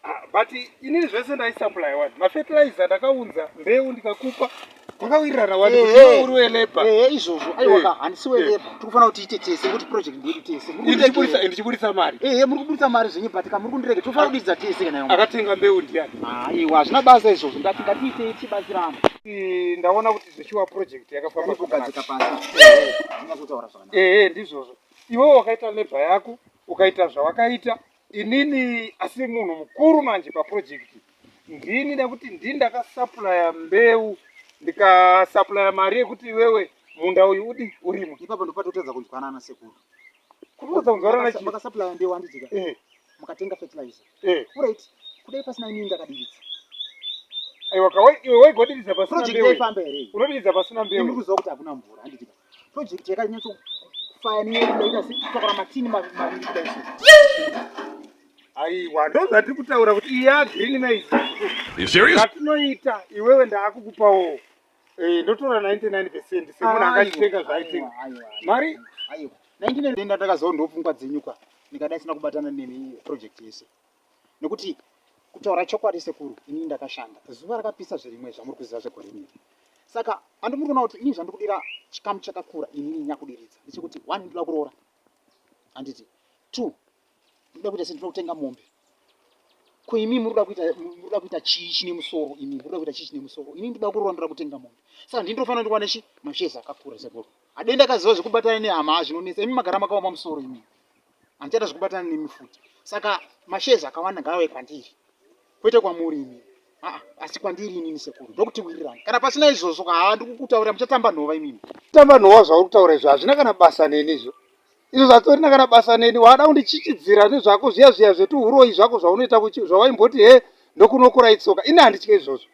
Ah, but inini zvese ndaisaplya wani mafertilizer ndakaunza mbeu ndikakupa kwakawirirana wani kuti iwe uri weleba ehe izvozvo aiwa ka handisi weleba tikufanira kuti tiite tese ngokuti project ndedu tese ndichiburitsa mari ehe muri kuburitsa mari zvenyu but ka muri kundirege tinofanira kudidza tese kana akatenga mbeu ndiyani aiwa hazvina basa izvozvo ndati ngatiitei tichibatsirana ndaona kuti zvechiwa project yakafamba kugadzika pasi ehe ndizvozvo iwewo wakaita leba yako ukaita zvawakaita Inini asi munhu mukuru manje paprojekiti ndini nekuti ndini ndakasapuraya mbeu ndikasapuraya mari yekuti iwewe munda uyu udi urimo ipapo ndopatotadza kunzwanana sekuru kutotadza kunzwanana chii makasapuraya mbeu handijika eh. mukatenga fertilizer eh. right kudai pasina inini ndakadiridza aiwa kawe iwe waigodiriza pasina mbeu unodiridza pasina mbeu ndikuziva kuti hakuna mvura handijika Project yakanyatso kufaya nenyaya yekudaita sekutakura matini maviri kudai so. Aiwa, ndozati kutaura kuti iya green maize. You serious? Katinoita iwewe ndaakukupawo. Eh, ndotora 99% semunhu akachitenga zvaitenga. Mari? Aiwa. 99 ndatakazoona ndopfungwa dzenyuka. Nikadai sina kubatana nemi project yese. nekuti kutaura chokwadi sekuru inini ndakashanda zuva rakapisa zvirimwe zvamuri kuziva zvegore iri saka andi muri kuona kuti ini zvandikudira chikamu chakakura inini nyakudiridza ndechekuti one ndinoda kuroora handiti two ndinoda kuita sendinoda kutenga mombe ko imi murikuda kuita murikuda kuita chii chine musoro imi murikuda kuita chii chine musoro ini ndinoda kuroora ndoda kutenga mombe saka ndini ndofanira ndiwane chi mashezi akakura sekuru adenda kaziva zvekubatana nehama zvinonetsa imi magara makaoma musoro imi handichada zvekubatana nemi futi saka mashezi akawanda ngaave kwandiri kwete kwamuri imi aa asi kwandiri inini sekuru ndokutiwirirana kana pasina izvozvo kaa ndikukutaurira muchatamba nhova imimi tamba nhova zvauri kutaura izvo hazvina kana basa neni izvo izvo zvatorina kana basa neni waada kundichichidzira nezvako zviya zviya zvetuhuroyi zvako zvaunoita zvawaimboti he ndokunokura itsoka ini handitye izvozvo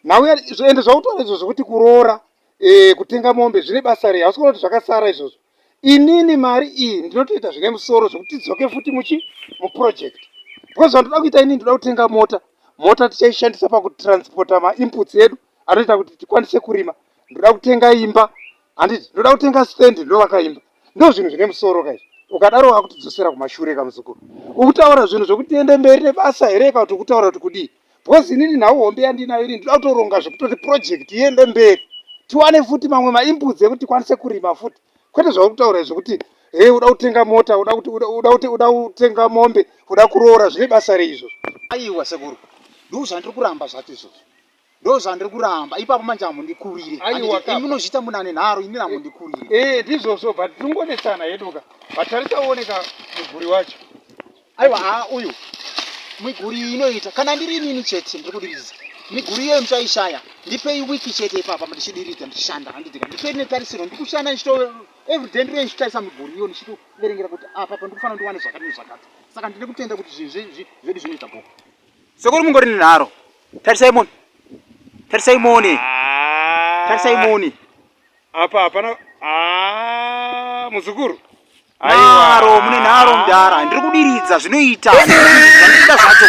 nhau ende zvautaura izvo zvekuti kuroora eh, kutenga mombe zvine basa rei hausi kuona kuti zvakasara izvozvo inini mari iyi ndinotoita zvine musoro zvekuti tidzoke futi muchi muproject because zvandoda kuita inini ndoda kutenga mota mota tichaishandisa pakutransporta mainputs edu anoita kuti tikwanise kurima ndoda kutenga imba handiti ndoda kutenga stand ndovaka imba ndo zvinhu zvine musoro kaizvi ukadaro wakutidzosera kumashure kamuzukuru ukutaura zvinhu zvekuti tiende mberi nebasa here kana kuti ukutaura kuti kudii because inini nhau hombe yandinayo ini ndinoda kutoronga zvekutoti project iende mberi tiwane futi mamwe maimbudzi ekuti tikwanise kurima futi kwete zvauri kutaura izvo kuti hei uda kutenga mota uda kuti uda kuti uda kutenga mombe uda kuroora zvine basa rei izvozvo aiwa sekuru ndoo zvandiri kuramba zvacho izvozvo ndoo zvandiri kuramba ipapo manje amundikurire munozviita muna ane nharo inini amundikurire ee eh, ndizvozvo but tinongonetsana heduka but tarisauoneka muguri wacho aiwa haa uyu miguri iyi inoita kana ndiri inini chete ndiri kudiridza miguri iyoyo muchaishaya ndipei wiki chete ipapa ndichidiridza ndichishanda handitika ndipei netarisiro ndiri kushanda ndichito everyday ndiri ndichitarisa miguri iyo ndichitoverengera kuti apa ah, pandikufanira ndiwane zvakati nezvakati saka ndine kutenda kuti zvinhu zvedu zvinoita boko sekuri mungori nenharo tarisai moni tarisai moni ah. tarisai moni apa hapana ah, muzukuru Nharo mune nharo mdara ndiri kudiridza zvinoita zvandikuda zvacho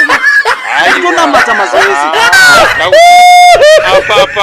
ndikutonamata mazuva ese apapa